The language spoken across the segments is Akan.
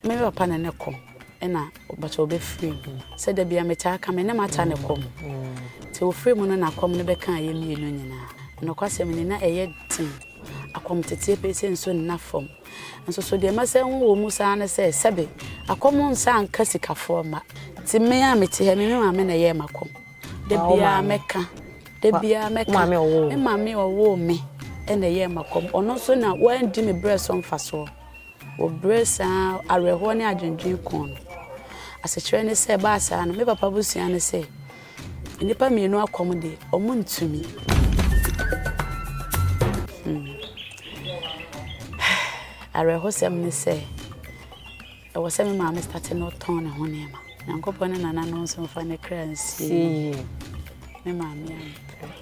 Me papa na ne kɔm na ɔbɛkyɛ ɔbɛfiri mu. Sɛ da bia metaa ka me ne mata ne kɔm. Nti ɔfiri mu no na kɔm no bɛkaa yɛ mmienu nyinaa. Nokwasɛm ni na ɛyɛ den. Akɔm teteɛ pɛi sɛ nsuo nna fam. Nso so deɛ mɛsɛ ho wɔ mu saa ne sɛ sɛbe akɔm nsa nka sikafoɔ mma. Nti me a mete ha me me maame na ɛyɛɛ makɔm. Da biaa mɛka, da biaa mɛka. Me maame a ɔwoo me na ɛyɛɛ makɔm. Ɔno nso na wandi me berɛ so mfasoɔ. Wɔbrɛ saa awerɛhoɔ ne adwendwene kɔn no. Asekyerɛ ne sɛ, ɛbaa saa no, me papa abusua no se, Nnipa mmienu akɔm de, wɔntumi. Hmm. Awerɛhosɛm ne sɛ, ɛwɔ sɛ me maame state no ɔtɔn ne ho nneɛma. Nyankopɔn ne nana no nso mfa ne kra nsie. Me maame ampere.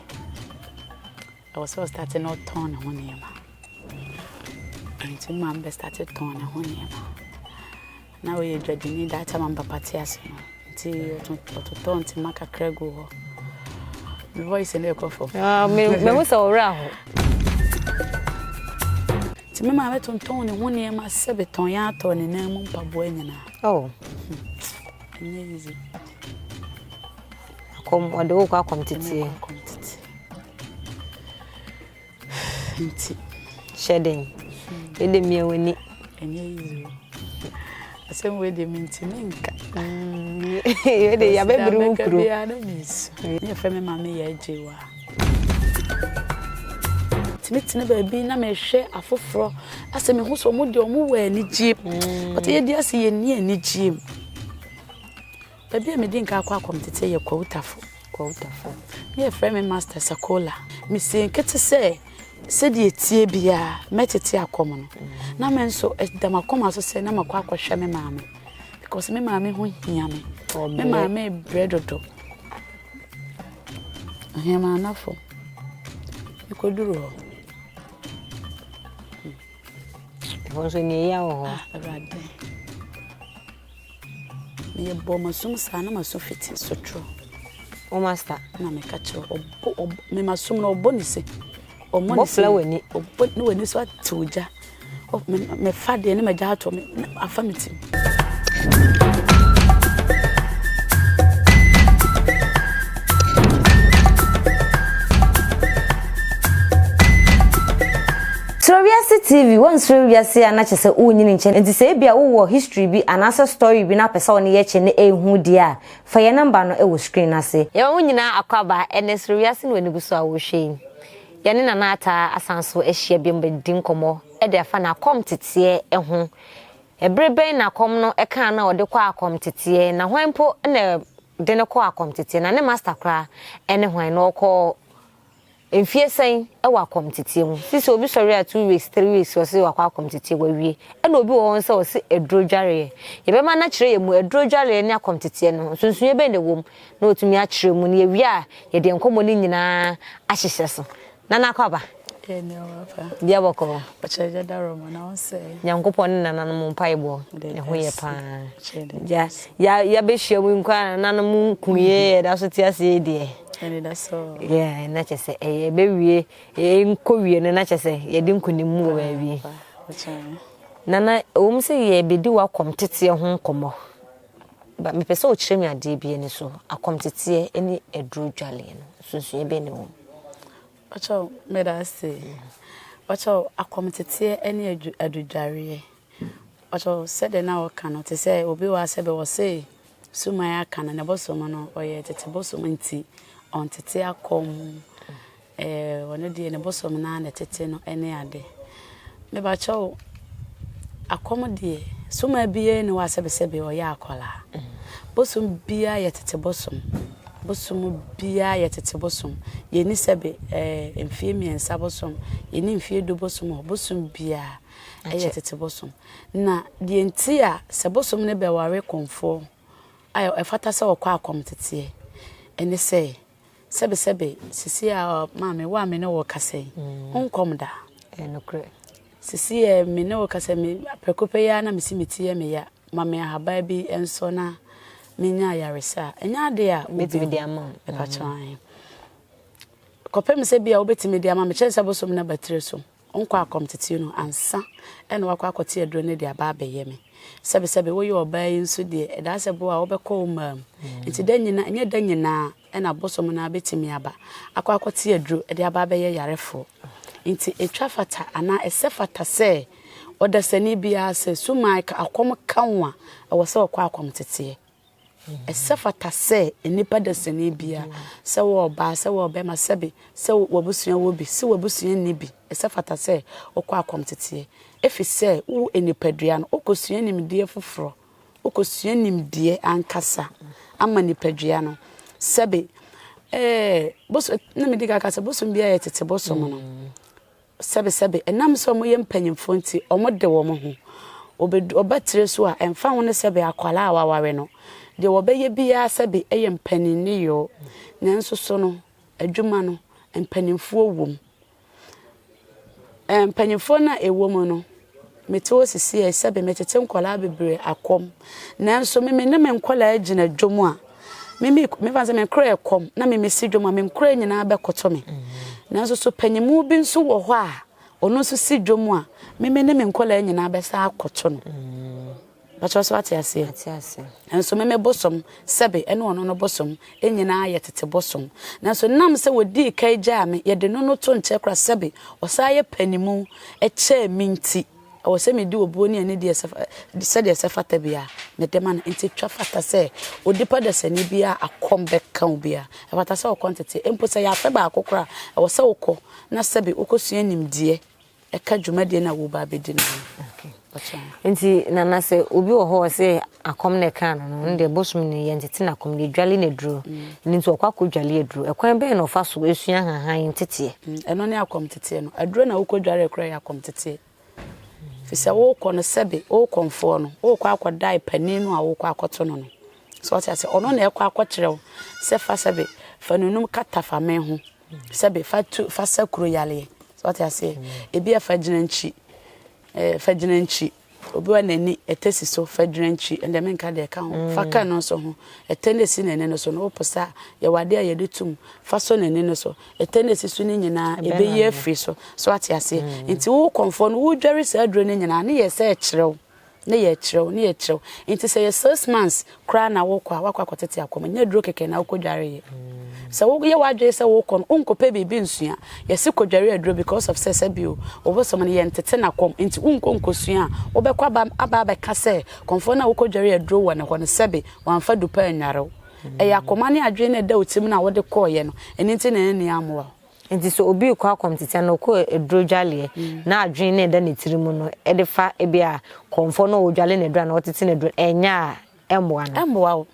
Ɛwɔ sɛ ɔstate na ɔtɔn ne ho nneɛma. Nti mo maame bɛstate tɔn ne ho nneɛma. Na ɔyɛ dwadini that time am papa te ase no. Nti ɔtotɔ ntoma kakra gu hɔ. Me voice no ɛkɔ fam. Ah, me me ho sɛ ɔwerɛ aho. Nti me maame tontɔn ne ho nneɛma sɛ betɔn yɛn atɔ ne nan mu mpaboa nyinaa. Oh. Hmm. Ɛnyɛ easy. Akɔm ɔde wo kɔ akɔm teteɛ. Nti hyɛ den. Yɛde mmea w'ani. Ɛnyɛ yiyi o. Asɛm wei deɛ mentumi nka. Yɛ de yabɛbiri wo kuro. Biara na mensu. Yɛ fɛ me maame yɛ agye wa. Tumi tene baabi na mehwɛ afoforɔ asɛ mehu sɛ wɔn deɛ wɔn wɔ anigyeɛ mu. Wɔte yɛ di ase yɛ ni anigyeɛ mu. Baabi a medii nka kɔ akɔmtete yɛ Kwautafo. Kwautafo. Na wɔfrɛ me Master Sakola. Misii nkete sɛ sɛdeɛ ɛteɛ biara mɛtete akɔm no. Na me nso ɛda m'akoma so sɛ na makɔ akɔhwɛ me maame because me maame ho hia me. Me maame rebrɛ dodo. Ahemmanafo. Mekɔduru hɔ. Ɛhɔ nso nea ɛyɛ wɔ hɔ. Ah, Awurade. Meyɛ bɔɔ m'aso mu saa na m'aso fete sotro. Wo masta. Na meka kyerɛ ɔbɔ ɔbɔ mema som no ɔbɔ ne se. Ɔmɔ ne se. Bɔfla w'ani. Ɔbɔ ne w'ani so atew gya. Mefa deɛ ne m'agya atɔ me afa me tim. Suro wiase TV, Wonsuro wiase a na kyerɛ sɛ wonnyini nkyɛ no nti sɛ ebia wowɔ history bi anaasɛ story bi na wopɛ sɛ wo ne yɛ kyɛ na ɛnhu deɛ a, fa yɛn number no wɔ screen no ase. Yɛma mo nyinaa akwaaba ɛnɛ Suro Wiase no w'ani gu so a worehwɛ yi. Yɛne Nana Ataa asan so ahyia biom bɛdi nkɔmmɔ de afa n'akɔm teteɛ ho. Ɛbere bɛn na akɔm no kaa no a ɔde kɔɔ akɔm teteɛ, na hwan mpo na ɛde no kɔɔ akɔm teteɛ, na ne master koraa ne hwan na ɔkɔɔ Mfie sɛn ɛwɔ akɔmteteɛ mu. Sisi obi sɔre a two weeks three weeks ɔse wakɔ akɔmteteɛ wawie ɛna obi wɔ hɔ nso a ɔse aduro dwareɛ. Yɛbɛma no akyerɛ yɛn mu aduro dwareɛ ne akɔmteteɛ no ho nsonsonoeɛ bɛn na ɛwɔ mu na watumi akyerɛ mu na yɛwie a yɛde nkɔmmɔ no nyinaa ahyehyɛ so. Nana akɔ aba? Yɛn ho papa. Bia bɔkɔɔ. Ɔkyerɛ gya dawuro mu na ɔnsɛ. Nyankopɔn ne nananom mpaebɔ ɛho yɛ paa. Gya yɛabɛhyia mu nko a nananom nkuiɛ yɛda so te aseɛ yi deɛ. Yeah, na kyɛ sɛ ɛyɛ ɛbɛwie nkɔwie no na kyɛ sɛ yɛde nkonim mu wɔ baabi na na ɛwom sɛ yɛbɛdi w'akɔm teteɛ ho nkɔmmɔ mepɛ sɛ ɔkyerɛ me adeɛ bi ani so akɔm teteɛ ne aduro dwaleɛ no sunsua bɛ ne wɔ ɔkyɛ meda ase ɔkyɛ akɔm teteɛ ne adudwareɛ ɔkyɛ sɛdeɛ na ɔka no te sɛ obi wɔ asɛ bɛ wɔ se Suman aka no, ne bosom no, ɔyɛ tete bosom nti, ɔntete akɔm. Eh, ɔno deɛ ne bosom no na ɛtete no ne ade. Mebakyɛ wo, akɔm deɛ, suma biara ne hɔ asɛbesɛbe ɔyɛ akwadaa. Bosom biara yɛ tete bosom. Bosom biara yɛ tete bosom. Yɛni sɛbe, eh, mfie mmiɛnsa bosom, yɛni mfie du bosom hɔ, bosom biara. Ɛyɛ tete bosom. Na deɛ nti a sɛ bosom no bɛware kɔmfoɔ a ɛfata sɛ ɔkɔ akɔmteteɛ ɛne sɛ, sɛbesɛbe sisi a maame wo a me ne wo rekasa yi, wonkɔm da. Sisi a me ne wo rekasa me prɛko pɛ yi ara na mesi me ti yɛ me ya ma me ahaban bi nso na menya ayaresa a ɛnyɛ ade a wobɛtumi de ama ɛpakyɛn kɔpem sɛ bi a wobɛtumi de ama me kyɛn sɛ bosom no abatire so. Ɔnkɔ akɔm tete no ansa na wakɔ akɔte aduro no de aba abɛyɛ me. Sɛbesɛbe woyɛ ɔbaa yi nso deɛ, ɛdaa sɛ bo a wobɛkɔ wo mmaa mu. Nti da nyinaa, ɛnyɛ da nyinaa na bosom no ara bɛtumi aba akɔ akɔte aduro de aba abɛyɛ yarefoɔ. Nti ɛtwa fata anaa ɛsɛ fata sɛ ɔdasani biara sɛ sumae ka akɔm ka wo a, ɛwɔ sɛ ɔkɔ akɔm teteɛ. Ɛsɛ fata sɛ nnipa dasani biara, sɛ ɔwɔ ɔbaa, sɛ ɔwɔ ɔbarima, sɛbe sɛ w'abusua wɔ bi, se w'abusua nni bi, ɛsɛ fata sɛ wokɔ akɔmteteɛ, efisɛ wo nnipadua no, wokɔsua nimdeɛ foforɔ, wokɔsua nimdeɛ ankasa ama nnipadua no, sɛbe ɛɛ, boso, na medi kan aka sɛ bosom biara yɛ tete bosom no. Sɛbesɛbe, ɛnam sɛ wɔyɛ mpanyimfo nti, wɔde wɔn ho. Wobedu ɔba tire so a, ɛmfa ho ne sɛbe akwadaa a wɔaware no, deɛ wɔbɛyɛ biara sɛbe ɛyɛ mpanin nneyɔɔ. Nanso so no, adwuma no, mpanyimfoɔ wom. Mpanyimfoɔ no a ɛwom no. Mete hɔ sisiei sɛbe metete nkɔlaa bebree akɔm nanso me mene me nkɔlaa gyina dwom a me me me fa sɛ me nkora ɛkɔm na me mesi dwom a me nkora nyinaa bɛkoto me nanso so panyimu bi nso wɔ hɔ a ɔno nso si dwom a me mene me nkɔlaa nyinaa bɛsa akoto no. Pakyɛw sɛ wate aseɛ? Mate aseɛ. Nanso me me bosom, sɛbe, ɛne ɔno no bosom, yɛn nyinaa yɛ tete bosom. Nanso nam sɛ wɔdii kan gyaa me, yɛde no no to nkyɛn koraa, sɛbe, ɔsan yɛ panimu kyɛɛ me nti, ɛwɔ sɛ medi obuo ne anidie sɛ, sɛdeɛ ɛsɛ fata biara, mede ma no. Enti twa fata sɛ onipa dasani biara a akɔm bɛka wo biara, ɛfata sɛ wokɔ nteteɛ. Mpo sɛ ɛyɛ afe baako koraa a, ɛwɔ sɛ wokɔ, na sɛbe, wokɔsua nimdeɛ. ɛka dwumadie no a woreba abɛdi no ho. Nti Nana sɛ obi wɔ hɔ ɔsɛ akɔm na ɛkaa no no, ɛnde bosom no yɛntete no akɔm no yɛdwale no aduro. Mm. Ɛno nti ɔkɔ akɔdwale aduro. Ɛkwan bɛn na ɔfa so ɛsua hahan nteteɛ? Mm, ɛno ne akɔm teteɛ no. Aduro na wokɔdware kora yɛ akɔm teteɛ. Fi sɛ wokɔ no sɛbe, wokɔ mfoɔ no, wokɔ akɔdae panin no a wokɔ akɔto no no. So ɔte ase, ɔno na ɛkɔ akɔkyerɛ wo sɛ fa sɛbe, fa nunum kata fa me ho. sɛbe fa tu fa sa kuro yareɛ so ɔte aseɛ ebi a fa gyina nkyi ɛɛ fa gyina nkyi obi wa n'ani ɛtɛ si so fa gyina nkyi ɛnna mi nka deɛ ɛka ho fa ka no nso ho ɛtɛ na esi n'ani no so no ɔpɔ sa yɛ wade a yɛde tum fa so n'ani no so ɛtɛ na esi so ne nyinaa ebe yɛ afiri so so ate aseɛ nti wo kɔnfɔ no wo dware saa aduro ne nyinaa ne yɛ sɛ ɛkyerɛw. na yɛrekyerɛw, na yɛrekyerɛw. Nti sɛ yɛ six months koraa na wokɔ a, woakɔ akɔtete akɔm. Ɛnyɛ aduro kɛkɛ na wokɔdware yɛ. Sɛ woyɛ w'adwene sɛ wokɔ no, wonkɔpɛ biribi nsua. Yɛse kɔdware aduro because of sɛ sɛbio ɔbosom no, yɛntete no akɔm. Nti wonkɔ nkɔsua a, wobɛkɔ aba aba abɛka sɛ kɔmfoɔ no a wokɔdware aduro wɔ ne hɔ no, sɛbe wamfa du pa annware wo. Ɛyɛ akoma ne adwene no a ɛda wo tirim no a wode kɔeɛ no, ɛno nti na anni ammoa wo. Enti sɛ obi rekɔ akɔmtete anaa ɔkɔ aduro dwaleɛ na adwene no reda ne tiri mu no de fa ebi a kɔmfoɔ no a ɔredwale no aduro anaa ɔtete no aduro ɛnyɛ a ɛmmoa no? Ɛmmoa wo.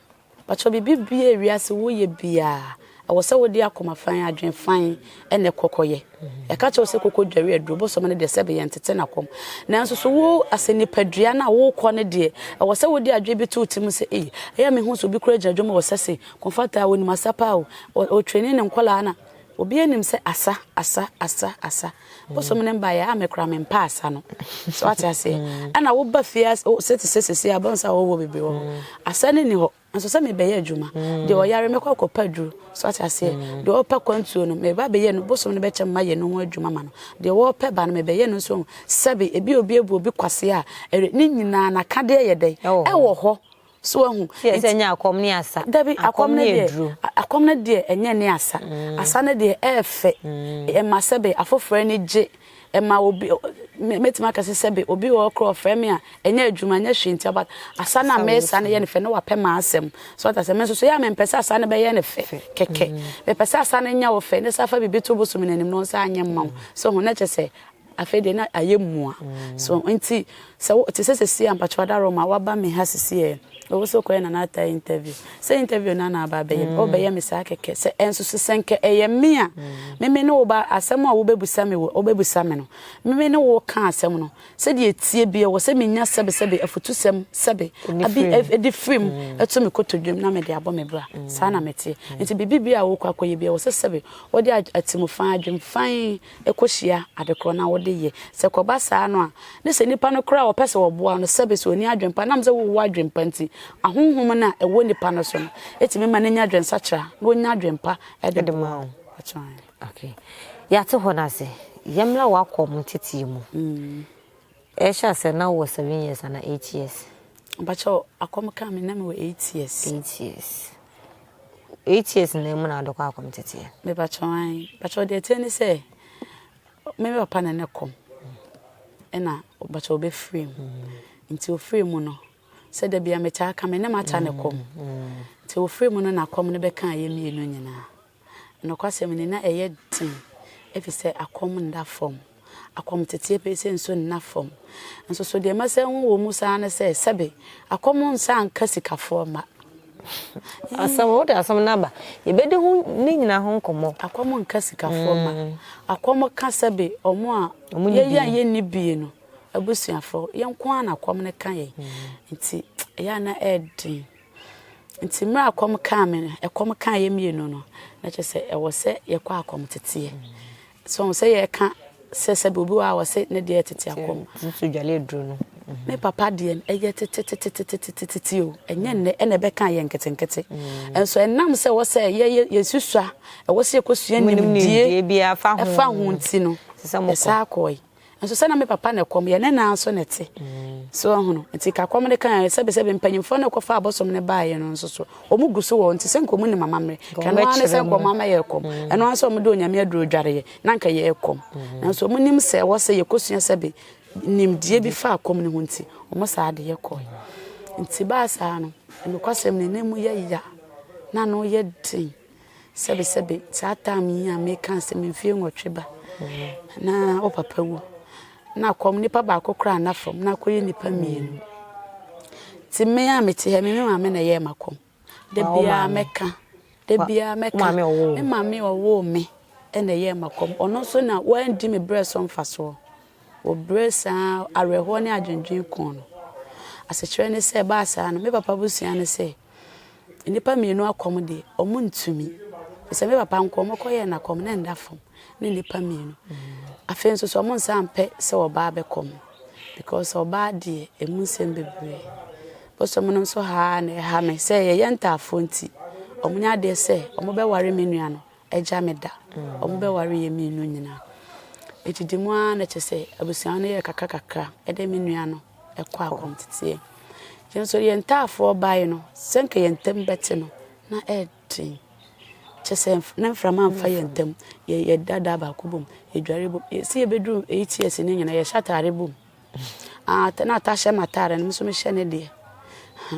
Mpakyɛw biribi biara a wiase woyɛ biara ɛwɔ sɛ wode akoma fann, adwene fann na ɛkɔ kɔyɛ. Yɛka kyerɛ wo sɛ kɔkɔ dware aduro, bosome no deɛ sɛbe yɛntete no akɔm. Nanso so wo asɛ nipadua no a worekɔ no deɛ ɛwɔ sɛ wode adwene bi to wo tirim sɛ ei ɛyɛ a mehu sɛ obi koraa gyina dwam hɔ ɔsɛ se kɔmfata a ɔnim asa paa o, ɔtrɛni ne nkwadaa na Obiara nim sɛ asa, asa, asa, asa. Bosom no mba yɛ a me koraa mempɛ asa no. So wate aseɛ? Mm. Ɛna woba fie sɛ te sɛ sese a bɛn sɛ awɔwɔ bebree wɔ hɔ. Mm. Asa no ni hɔ. Nso sɛ mebɛyɛ adwuma. Mm. Deɛ ɔyare mɛkɔ akɔpa duro. So wate aseɛ? Deɛ ɔpɛ kwantuo no meba bɛyɛ no bosom no bɛkyɛ mma yɛ no ho adwuma ma no. Deɛ wɔpɛ ba no mebɛyɛ no nso sɛbe ebi obi ebu obi kwase a ɛre ne nyinaa nakadeɛ yɛ dɛn ɛwɔ hɔ. So wahu? Sɛ sɛ nyɛ akɔm ne asa. Dabi, akɔm no deɛ, akɔm no deɛ ɛnyɛ ne asa. Asa no deɛ ɛyɛ fɛ. Ɛma sɛbe afoforɔ ani gye. Ɛma obi, mɛtumi aka sɛ sɛbe obi wɔ hɔ koraa ɔfrɛ me a, ɛnyɛ adwuma, ɛnyɛ hwee ntia, but asa no a mɛsa no yɛ no fɛ na wapɛ m'asɛm. So wate aseɛ? Me nso so yɛ a mempɛ sɛ asa no bɛyɛ no fɛ kɛkɛ. Mepɛ sɛ asa no nyɛ wo fɛ, ne sɛ afa biribi to bosom no anim na ɔnsa anyɛ mma wo. So ho? Na kyerɛ sɛ Afei deɛ na ayɛ mua so nti sɛ wo te sɛ sesie a mpakyɛw Adaroma waba me ha sesie ɛ o wo so kɔyɛ Nana Atai interview sɛ interview na na aba abɛyɛ me o bɛyɛ me saa kɛkɛ sɛ ɛnso so sɛ nka ɛyɛ me a me me ne wo ba asɛm a wo bɛ busa me wo bɛ busa me no me me ne wo ka asɛm no sɛdeɛ ɛtie bi ɛwɔ sɛ me nya sɛbe sɛbe afutusɛm sɛbe abi ɛdi firi mu ɛto me kotodwam na me de abɔ me bra saa na me teɛ nti biribi bi a wo kɔ akɔyɛ bi ɛwɔ sɛ sɛbe wo de atemufan adwemfan kɔhyia ade korɔ na wode yɛ. Sɛ ɛkɔba saa no a, ne sɛ nnipa no koraa a wɔpɛ sɛ wɔboa no, sɛbe sɛ ɔnni adwene pa, ɛnam sɛ wowɔ adwene pa nti, ahonhom no a ɛwɔ nnipa no so no tumi ma no nya adwensakyera na ɔnya adwene pa de boa wo. Yɛate hɔ no ase. Yɛmmra w'akɔm ntetee mu. Ɛhyɛ aseɛ na wowɔ seven years anaa eight years. Mpakyɛw akɔm kaa me na me wɔ eight years. Eight years. Eight years na emu na adokɔ akɔm teteɛ. Me pakyɛw an. Pakyɛw deɛ ɛteɛ ne sɛ me me papa na ne kɔm ɛna pakyɛw ɔbɛ free mu. Mm. Nti ofree mu no sɛ da bia metaa ka me ne mata ne kɔm. Mm. Mm. Nti ofree mu no na kɔm no bɛka ayɛ mmienu nyinaa. Nokwasɛm ni, na ɛyɛ den efisɛ akɔm nna fam. Akɔm teteɛ pɛɛ sei nso nna fam. Nso so deɛ ɛma sɛ ho wɔ mu saa ne sɛ, sɛbe, akɔm nsa nka sikafoɔ mma. Asɛm, wode asɛm no aba. Yɛbɛdi ho, ne nyinaa ho nkɔmmɔ. Akɔm nka sikafoɔ mma. Akɔm ka sɛbe, wɔn a, yɛn a yɛnni bie no, abusuafoɔ, yɛn nko ara na akɔm no ka yɛn. Nti, ɛyɛ a na ɛyɛ den. Nti mmerɛ a kɔm kaa me no, ɛkɔm kaa yɛ mmienu no, na kyerɛ sɛ ɛwɔ sɛ yɛkɔ akɔm teteɛ. So ɔhu sɛ yɛka sɛ sɛbi obi wɔ a wɔ se ne deɛ ɛtete akɔm. Nso dwale aduro no. Me papa deɛ ɛyɛ tetetetetetetete o. Ɛnyɛ nnɛ ɛna ɛbɛka yɛ nketenkete. Nso ɛnam sɛ wɔ sɛ yɛyɛ yɛsusua, ɛwɔ sɛ yɛkɔsua nimdie ɛfa ho nti no, ɛsaa kɔe. Nso sɛ na me papa na kɔm yɛ ne nan so na te. So ɔhono. Nti ka kɔm ne kan yɛ sɛbe sɛbe mpanyimfoɔ na kɔfa abosom ne baayɛ no nso so. Ɔmo gu so wɔ nti sɛ nka ɔmo nim amammerɛ. Kɛno ara ne sɛ nka ɔmo ama yɛ kɔm. Ɛno ara sɛ ɔmo de onyame aduro dware yɛ na nka yɛ kɔm. Nanso ɔmo nim sɛ ɛwɔ sɛ yɛkɔsua sɛbe nimdeɛ bi fa kɔm ne ho nti ɔmo saa de yɛ kɔe. Nti baa saa no nokwasɛm no na emu yɛ ya na ano yɛ den. Sɛbesɛbe, saa tam yi a meka sɛ me mfeɛ nwɔtwe ba na wo papa wu na akɔm nipa baako koraa na fam na akɔyɛ nipa mmienu nti me a mete ha me me maame na ɛyɛɛ makɔm da biara mɛka da biara mɛka me maame ɔwoo me ɛna ɛyɛɛ makɔm ɔno nso na wandi me berɛ so mfasoɔ wɔbrɛ saa awerɛhoɔ ne adwendwen kɔn no asekyerɛ ne sɛ ɛbaa saa no me papa busua ne sɛ Nnipa mmienu akɔm deɛ, wɔntumi. Te sɛ me papa nkoa, wɔkɔyɛɛ no akɔm, na ɛnda fam, ne nnipa mmienu. Afei nso so, wɔnsan mpɛ sɛ ɔbaa bɛkɔ mu, because ɔbaa deɛ, ɛmu nsɛm bebree. Bosom no nso ha ara na ɛha me sɛ yɛyɛ ntaafoɔ nti, wɔnyɛ adeɛ sɛ wɔbɛware me nua no. agya me da. Wɔbɛwaree yɛn mmienu nyinaa. Edidi mu ara na kyerɛ sɛ abusua no yɛɛ kakrakakra de me nua no kɔɔ akɔnteteɛ. Yɛn nso yɛn ntaafoɔ baeɛ no, sɛnka yɛn ntam bɛte no, na ɛyɛ den. Kyerɛ sɛ na mframa mfa yɛn ntam. Yɛda da baako bom, yɛdware bom. Sɛ yɛbɛduru eight years no nyinaa, yɛhyɛ ataare bom. Ah, na ɔtaa hyɛ m'ataare no, me nso mehyɛ ne deɛ. Ha,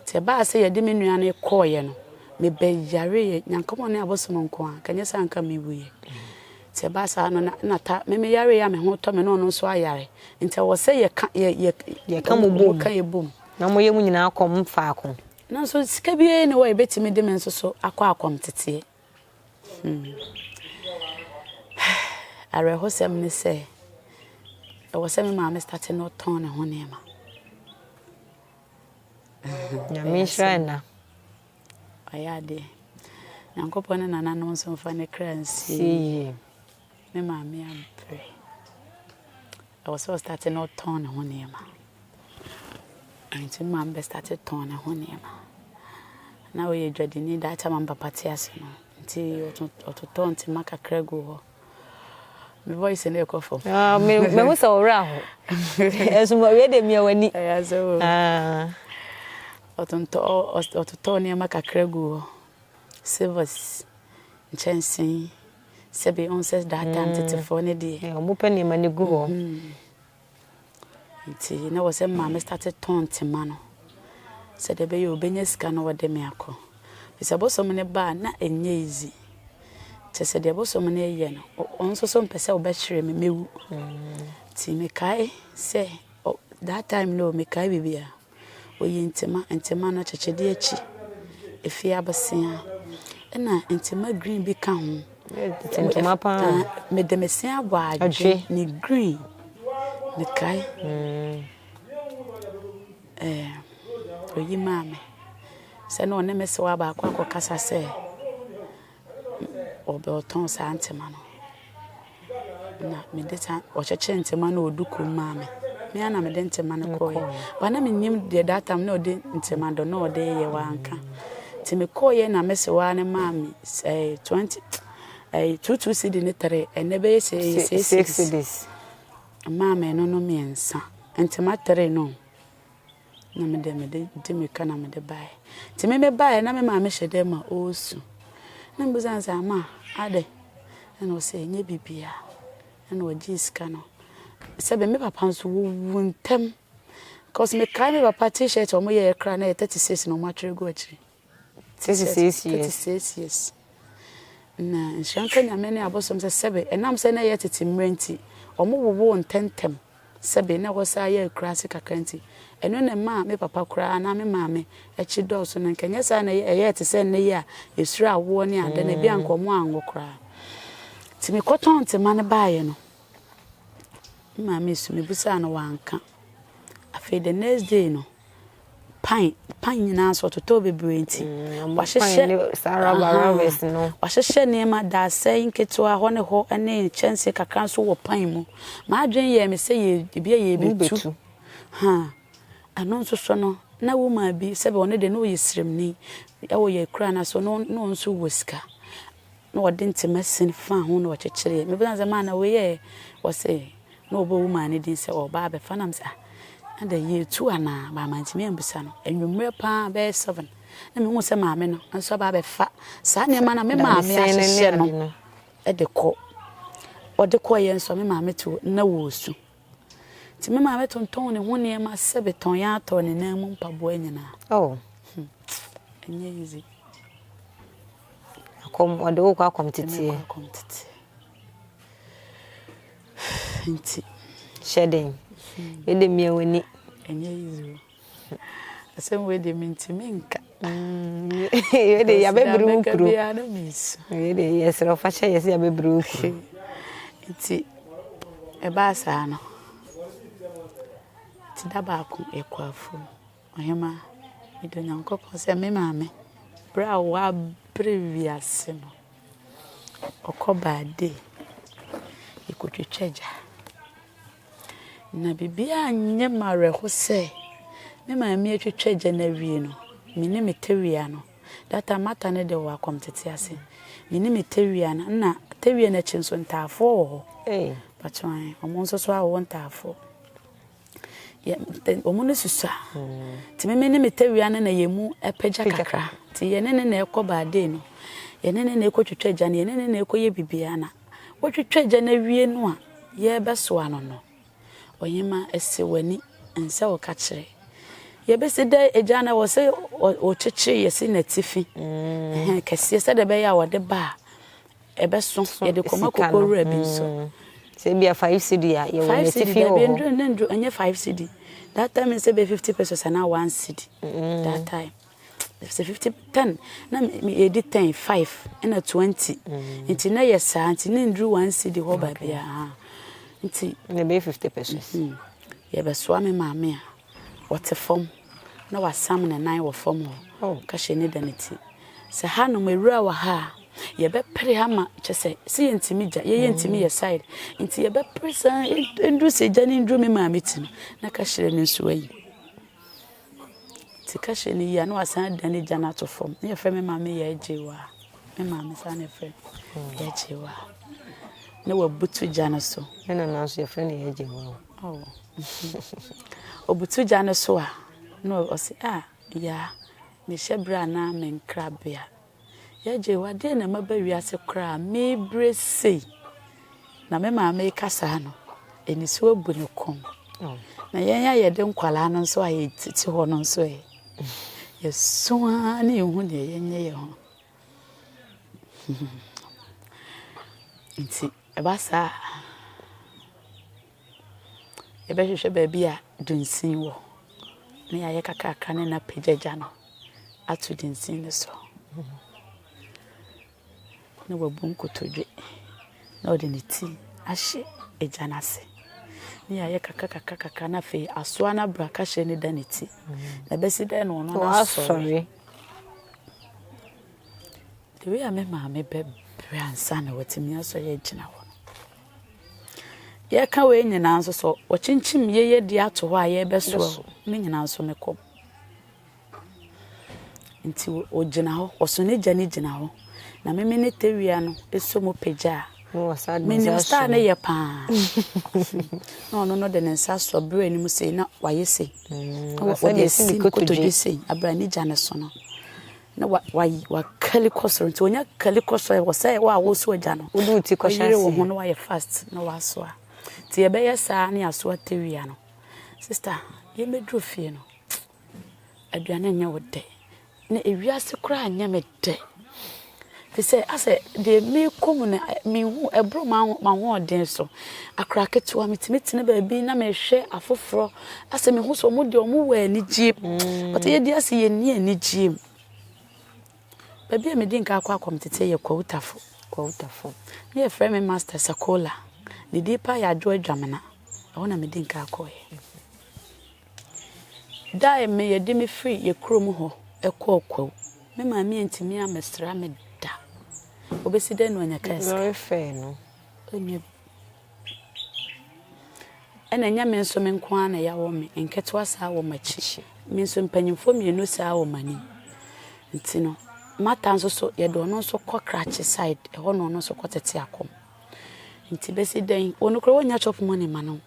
nti ɛbaa sɛ yɛde me nua no kɔɔeɛ no, mebɛyareeɛ. Nyankopɔn ne abosom nko ara, anka ɛnyɛ sɛ anka mewuiɛ. Nti ɛbaa saa no, na, na ta, me meyareeɛ a me ho tɔ me na ɔno nso ayare. Nti ɛwɔ sɛ yɛka, yɛ, yɛ, yɛka mo bom. Yɛka yɛ bom. Na moyɛ mo nyinaa kɔm faako. Nanso sika biara ni hɔ a yɛbɛtumi de me nso so akɔ akɔm teteɛ. Hmm. Awerɛhosɛm ne sɛ, ɛwɔ sɛ me maame state no tɔn ne ho nneɛma. Nyame nhyira na. Ɔyɛ adeɛ. Nyankopɔn ne nananom nso mfa ne kra nsie. Me maame ampere. Ɛwɔ sɛ ɔstate na ɔtɔn ne ho nneɛma. Nti maame bɛ state tɔn ne ho nneɛma. Na ɔyɛ adwadini da akyɛ maame papa te ase no. Nti ɔtotɔ ntoma kakra gu hɔ. Me voice na ɛkɔ fam. Ah, me me ho sɛ ɔwerɛ aho. Ɛso mo wie de mia wani. Ɛyɛ sɛ o. Ah. Ɔtontɔ ɔtotɔ nneɛma kakra gu hɔ. Silvers, nkyɛnsee. Sɛbe ɔnsɛ daadaa ntetefoɔ no deɛ. Eh, ɔmo pɛ nneɛma no gu hɔ. Mm-hmm. Nti na wɔ sɛ maame starte tɔn ntoma no. Sɛ deɛ bɛyɛ ɔbɛnya sika na wɔde me akɔ. Bisa bosom no baa na ɛnyɛ izi. Kyɛ sɛ deɛ bosom no yɛ no, ɔno nso so mpɛ sɛ ɔbɛkyerɛ me mɛwu. Mm-hmm. Nti mekae sɛ that time no mekae biribiara. Ɔyi ntoma, ntoma no akyekyedeɛ akyi, ɛfiri abosea, ɛna ntoma green bi ka ho. Ntoma paa. Ah, mede me se abɔ adwe ne green. Mekae. Mm. Eh, ɔyi maa me. Sɛ na ɔne me se wɔ abaako akɔkasa sɛ, Wɔtɔn saa ntoma no, na mede saa wɔkyekyere ntoma no wɔ duku mu maa me. Me ara na mede ntoma no kɔɔeɛ. Ba na menim deɛ that time na ɔde ntoma do na ɔde yɛ wanka. Nti mekɔɔeɛ na mese waa no maa me eh, 20 eh, 22 cedi ne tere ɛnɛ bɛyɛ sɛ ɛyɛ 6 cedis. Maa me ɛno no mmiɛnsa. Ntoma tere no. Na me deɛ, mede de mmirika na mede baeɛ. Nti me mebaeɛ, na me maame hyɛ dan mu a ɔresu. Na mebisa no sɛ, Ama, adɛn? Ɛnna ɔse, Ɛnyɛ biribiara. Ɛnna ɔgyee sika no. Sɛbe me papa nso, wɔwu ntɛm. Cause mekae me papa T-shirt a wɔyɛeɛ koraa, na ɛyɛ thirty cedis na wɔatwerɛ agu akyire. 36 years. 36 years. Na nhyira nka Nyame ne abosom sɛ sɛbe ɛnam sɛ na ɛyɛ tete mmerɛ nti, ɔmo wowoo ntɛntɛm sɛbe na ɛhɔ saa yɛ akuraase kakra nti, ɛno na ɛmaa me papa koraa anaa me maame akyi dɔɔso na nka ɛnyɛ saa na ɛyɛɛ te sɛ nnɛ yi a yɛsuro awoɔ ne adeɛ no, ebia nka ɔmo anwo koraa. Nti mekɔtɔn ntema no baeɛ no, me maame su mebisaa no wanka. Afei the next day no, Pan, pan nyinaa nso ɔtotɔɔ bebree nti, mm, wahyehyɛ ne saa rubber rubbers no. Wahyehyɛ nneɛma daasɛe nketewa hɔ ne hɔ ne nkyɛnse kakra nso wɔ pan mu. M'adwene yɛɛ me sɛ yɛ ebi a yɛbɛtu. Ha, ɛno nso so no, na womaa bi sɛbe ɔno de na ɔyɛ sremni ɛwɔ yɛ kura no so no no nso wɔ sika. Na wɔde ntema sin faa ho na wɔkyekyereeɛ. Mebisa no sɛ, Maana, wei ɛ? Ɔse, na wɔbɔɔ wo maame din sɛ ɔreba abɛfa. Na mese, ah, na dɛn, yɛretu anaa? But mantumi ammisa no. Anwummerɛ pa ara, bɛyɛ seven, na mehu sɛ maame no nso aba abɛfa saa nneɛma no a me maame ahyehyɛ no de kɔ. Ɔde kɔeɛ nso a, me maame te hɔ, na ɔresu. Nti me maame tontɔn ne ho nneɛma sɛ betɔn yɛ atɔ ne nan mu mpaboa nyinaa. Oh. Hmm. Ɛnyɛ easy. Akɔm, ɔde wo kɔ akɔm teteɛ. Akɔm teteɛ. Nti. Hyɛ den. Yɛde mmea w'ani. Ɛnyɛ easy. asɛm wei deɛ mentumi nka wei deɛ yɛabɛbiri wo kuro wei deɛ yɛserɛ ɔfa hyɛ yɛ sɛ yɛabɛbiri wo kuro nti ɛbaa saa no nti da baako yɛkɔ afuom ɔhema mede onyankopɔn sɛ me maame berɛ a wɔabere wiase no ɔkɔ baade yɛkɔtwitwa gya Na biribiara nyɛ me awerɛho sɛ me maame atwitwa gya no awie no, me ne me tawia no, that time mata no deɛ wɔ akɔmtete ase, me ne me tawia no, na tawia no akyi nso ntaafoɔ wɔ hɔ. Hey. Patwan, wɔn nso so awo ntaafoɔ. Wɔn no susua. Hmm. Nti me ne me tawia no na yɛn mu apagya kakra. Nti yɛne ne na ɛkɔ baadee no, yɛne ne na ɛkɔ twitwa gya no, yɛne ne na ɛkɔ yɛ biribiara na Wotwitwa Agya no awie no a yɛrebɛsoa no no, ɔhema si w'ani nsɛ wo ka kyerɛ. Yɛbɛsi dɛ Agya no ɛwɔ sɛ ɔkyekyere yɛsi n'atifi kɛseɛ sɛdeɛ ɛbɛyɛ a wɔde ba a ɛbɛso yɛde kɔma koko wura bi nso. Sɛ ebi a five cedi a yɛwɔ n'atifi wɔ hɔ. Ɛnyɛ five cedi. That time sɛ bɛ fifty pesos anaa one cedi. That time. sɛ fifty ten na yɛdi ten five ɛna twenty mm. nti na yɛ saa nti ne nduru one cd hɔ baabi a nti. na ɛbɛyɛ fifty pesos. Mm-hmm. yɛbɛsoa me maame a wɔte fam na wasam ne nan wɔ fam hɔ oh. kahyɛ ne da ne ti sɛ ha nom awura wɔ ha a yɛbɛpere ama kyɛ sɛ sɛ yɛntumi gya yɛyɛ mm. ntumi yɛ side nti yɛbɛpere saa nduru sɛ gya ne nduru me maame ti no na kahyɛ ne nso ayi. Sika hyɛ no yie a na wasan adan ne gya no ato fam. Na yɛfrɛ me maame Yaa Gyewaa. Me maame saa na yɛfrɛ no, Yaa Gyewaa. Na wabutu gya no so. Me nana nso yɛfrɛ no Yaa Gyewaa. Oh. Obutu gya no so a, na ɔse, ah, Yaa, mehyɛ berɛ anaa me nkrabea. Yɛgye, adeɛ na ɛma ba wiase koraa a mebire sei na me maame reka saa no, anisuo abu ne kɔn. Na yɛn a yɛde nkwadaa no nso a yɛtete hɔ no nso ɛ, yɛso ara ne yɛhu deɛ yɛnyɛ yɛn ho. Nti ɛba saa a, Yɛbɛhwehwɛ baabi a dunsin wɔ na yɛayɛ kakraka ne no apagya gya no ato dunsin no so na wabu nkotodwe na ɔde ne ti ahyɛ agya no ase ne yɛayɛ kakra kakra kakra na afei asoa no abra kahyɛ ne da ne ti na bɛsi dɛ na ɔno no asɔre the way a me maame bɛbrɛ ansa na watumi asɔre agyina hɔ Yɛka wei nyinaa nso sɛ wɔkyinkyim yɛyɛdi ato hɔ a yɛrebɛsow ne nyinaa nso ne kɔm. Nti ogyina hɔ, ɔso ne gya no gyina hɔ na meme ne tawia no so mu pagya a. Menim star no yɛ paa. Na ɔno no de ne nsa asɔ berɛ anim sei na wayɛ sei. Ɔde asi ne kotodwe sei abere a ne gya no so no. na wa wa wakali kɔ soro nti onya kali kɔ soro wɔ sɛ wɔ a wɔso agya no wode wo ti kɔ hyɛ ase wo ho na wayɛ fast na wasoa nti yɛbɛyɛ saa ne asoa tewia no sister yɛmɛduru fie no aduane nyɛ wo dɛ na ewiase koraa nyɛ me dɛ Te sɛ, asɛ deɛ merekɔ mu no, menhu, ɛboro m'ahoɔden so. Akwadaa ketewa, metumi tena baabi na mehwɛ afoforɔ, asɛ mehu sɛ wɔn deɛ wɔwɔ anigyeɛ mu. But yɛn deɛ asɛ yɛnni anigyeɛ mu. Baabi a medi nkan akɔ akɔ metete yɛ Kwawutafo. Kwawutafo. Ne yɛfrɛ me Master Sakola. Ne din paa yɛ Adwoa Dwamena. Ɛhɔ na medi nkan kɔeɛ. Da a me yɛde me firi yɛ kurom hɔ kɔɔ kwawu me maame antumi ammɛsra me da. Obesi dɛn na wanya kaa sika? Lɔre fɛɛ no. Ɔnya bi. Ɛna ɛnyɛ me nso me nko ara na yɛawɔ me nketewa saa wɔ m'akyi. Me nso mpanyimfoɔ mmienu saa wɔ m'anim. Nti no, Martha nso so yɛde ɔno nso kɔ Krachi side, ɛhɔ na ɔno nso kɔtete akɔm. nti bɛsi dɛn wɔn koraa wɔnya chop money ma no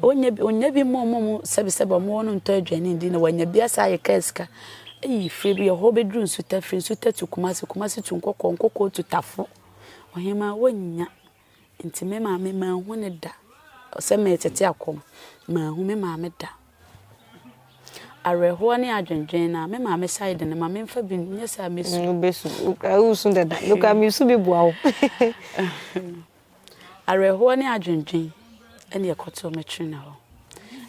wɔnya bi wɔnya bi mmɔ mmɔ mu sɛbisɛbi wɔn wɔn ntɔ aduane ndi na wɔnya bi asa ayɛ kaa sika eyi firi bi ɛhɔ bɛduru nsuta firi nsuta tu kumase kumase tu nkɔkɔɔ nkɔkɔɔ tu tafo ɔhemaa wɔnya nti me maame maa ho ne da sɛ mɛtete akɔm maa ho me maame da. Awerɛhoɔ ne adwendwen na me maame side no ma memfa bi nyɛ sɛ a mɛsu. Wobɛsu, wosu dada, mekora mesu bi boa wo. Awerɛhoɔ ne adwendwen ne ɛkɔtoo me twene hɔ.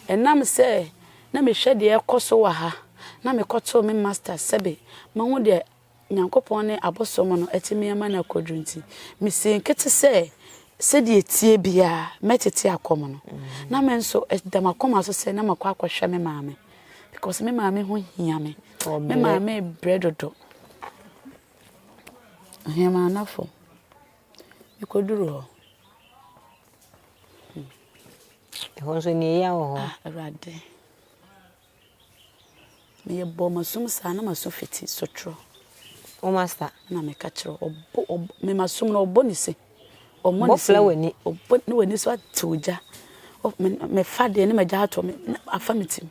Ɛnam sɛ na mehwɛ deɛ ɛkɔ so wɔ ha na mekɔtoo me masters sɛbe mahu deɛ Nyankopɔn ne abosom no atumi ama no akɔduru nti, misii nkete sɛ sɛdeɛ ɛteɛ biara mɛtete akɔ mu no, na me nso ɛda m'akoma so sɛ na makɔ akɔhwɛ me maame because me maame ho hia me. Me maame brɛ dodo. Ɔhema anafo. Mekɔduru hɔ. Ɛhɔ nso nea ɛyɛ wɔ hɔ. Ah, Awurade. Meyɛ bɔɔ m'asom saa na m'aso fiti sotrɔ. O Masta. Ɛna meka kyerɛ ɔbo ɔbo me m'asom no ɔbɔ ne se. Ɔmmɔ ne se. Bɔfla w'ani. Ɔbɔ ne w'ani so atew gya. Mefa deɛ ne m'agya atɔ me afa me tim.